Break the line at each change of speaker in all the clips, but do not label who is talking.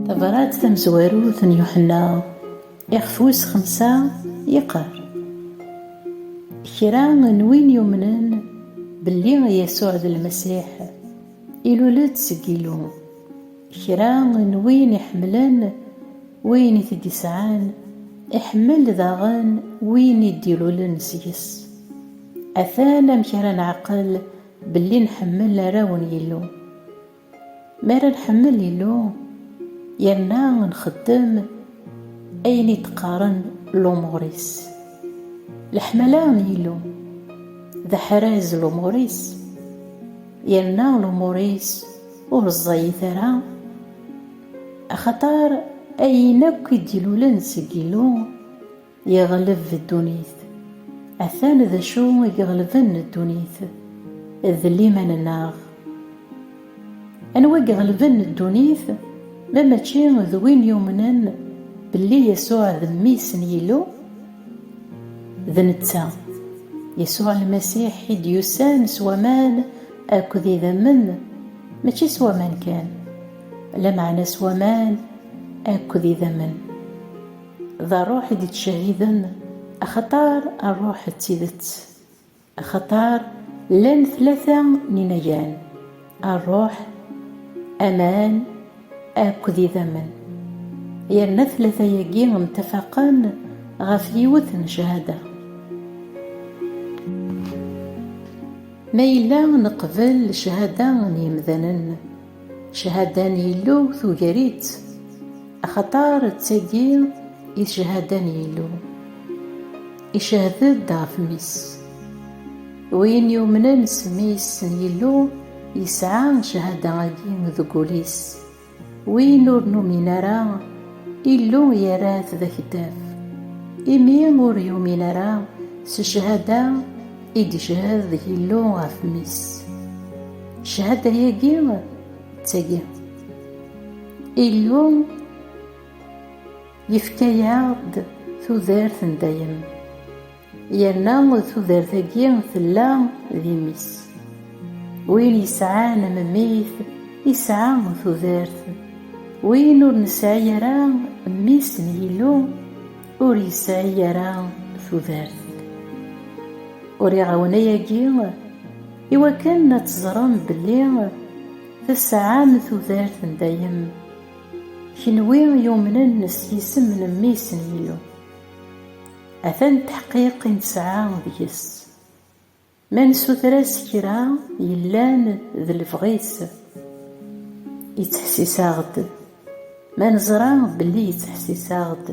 Tabrat tamezwarut n Yuḥenna ixef wis xemsa yeqqar, Kra n win yumnen belli Yasuɛ d Lmasiḥ, ilul-d seg Yillu. Kra n win iḥemmlen win i t-id-isɛan, iḥemmel daɣen win i d-ilulen seg-s. Atan amek ara neɛqel Belli nḥemmel arraw n Yillu. Mi ara nḥemmel Yillu, yerna nxeddem ayen i d-qqaren lumuṛ-is. Leḥmala n Yillu, d aḥraz lumuṛ-is, yerna lumuṛ-is ur ẓẓayit ara, axaṭer ayen akk i d-ilulen seg Yillu, Yeɣleb ddunit. Atan d acu i iɣelben ddunit, d liman-nneɣ. Anwa i iɣelben ddunit ma mačči d win yumnen belli Yasuɛ d Mmi-s n Yillu? D netta, Yasuɛ Lmasiḥ i d-yusan s waman akked idammen, mačči s waman kan, lameɛna s waman akked idammen. D ṛṛuḥ i d-ittcehhiden, axaṭer ṛṛuḥ d tidet. Axaṭer llan tlata n inagan, ṛṛuḥ, aman akked idammen. Yerna tlata-agi mtafaqen ɣef yiwet n cchada. Ma yella neqbel cchada n yemdanen, Cchada n Yillu tugar-itt, axaṭer d tagi i d cchada n Yillu, icehhed-d ɣef Mmi-s. Win yumnen s Mmi-s n Yillu yesɛa cchada-agi deg wul-is, win ur numin ara, Illu yerra-t d akeddab, imi ur yumin ara s cchada I d-icehhed Yillu ɣef mmi-s. Cchada-agi d tagi. Illu yefka-aɣ-d tudert n dayem, yerna tudert-agi tella d imi-s. Win yesɛan mmi-t yesɛa tudert, win ur nesɛi ara mmi-s n Yillu, Ur yesɛi ara tudert. Uriɣ-awen ayagi i wakken ad teẓrem belli tesɛam tudert n dayem, kenwi yumnen s yisem n Mmi-s n Yillu. Atan ddḥqiq i nesɛa deg-s. Ma nessuter-as kra yellan d lebɣi-s, yettḥessis-aɣ-d. Ma neẓra belli yettḥessis-aɣ-d,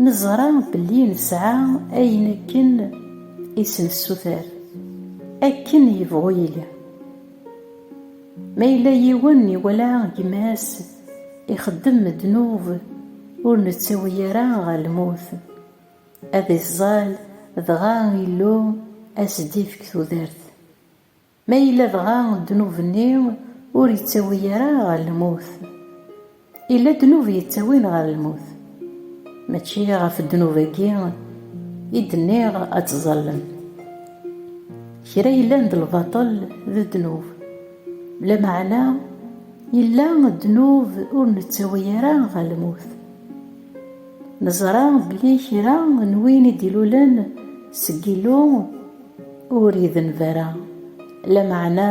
neẓra belli nesɛa ayen akken i s-nessuter, akken yebɣu yili. Ma yella yiwen iwala gma-s ixeddem ddnub ur nettawi ara ɣer lmut, Ad iẓẓal dɣa Illu ad s-d-ifk tudert. Ma yella dɣa ddnub-nni ur yettawi ara ɣer lmut? Yella ddnub yettawin ɣer lmut. Mačči ɣef ddnub-agi i d-nniɣ ad ttẓallen. Kra yellan d lbaṭel d ddnub. Lameɛna yella ddnub ur nettawi ara ɣer lmut. Neẓra belli kra n win i d-ilulen seg Illu ur idenb ara, lameɛna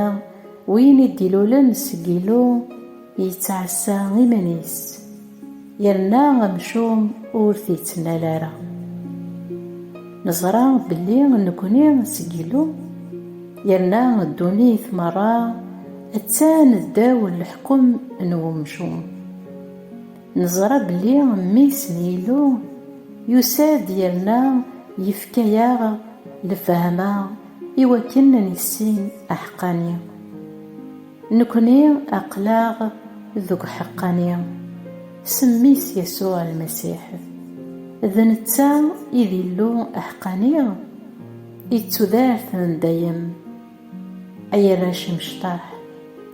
win i d-ilulen seg Illu yettɛassa iman-is, yerna amcum ur t-ittnal ara. Neẓra belli nekni seg Illu, yerna ddunit merra attan ddaw leḥkem n umcum. Neẓra belli mmi-s n Yillu yusa-d yerna yefka-aɣ lefhama iwakken ad nissin aḥeqqani. Nekni aql-aɣ deg uḥeqqani s mmi-s Yasuɛ Lmasiḥ. D netta i d Illu aḥeqqani i tudert n dayem. Ay arrac imecṭaḥ!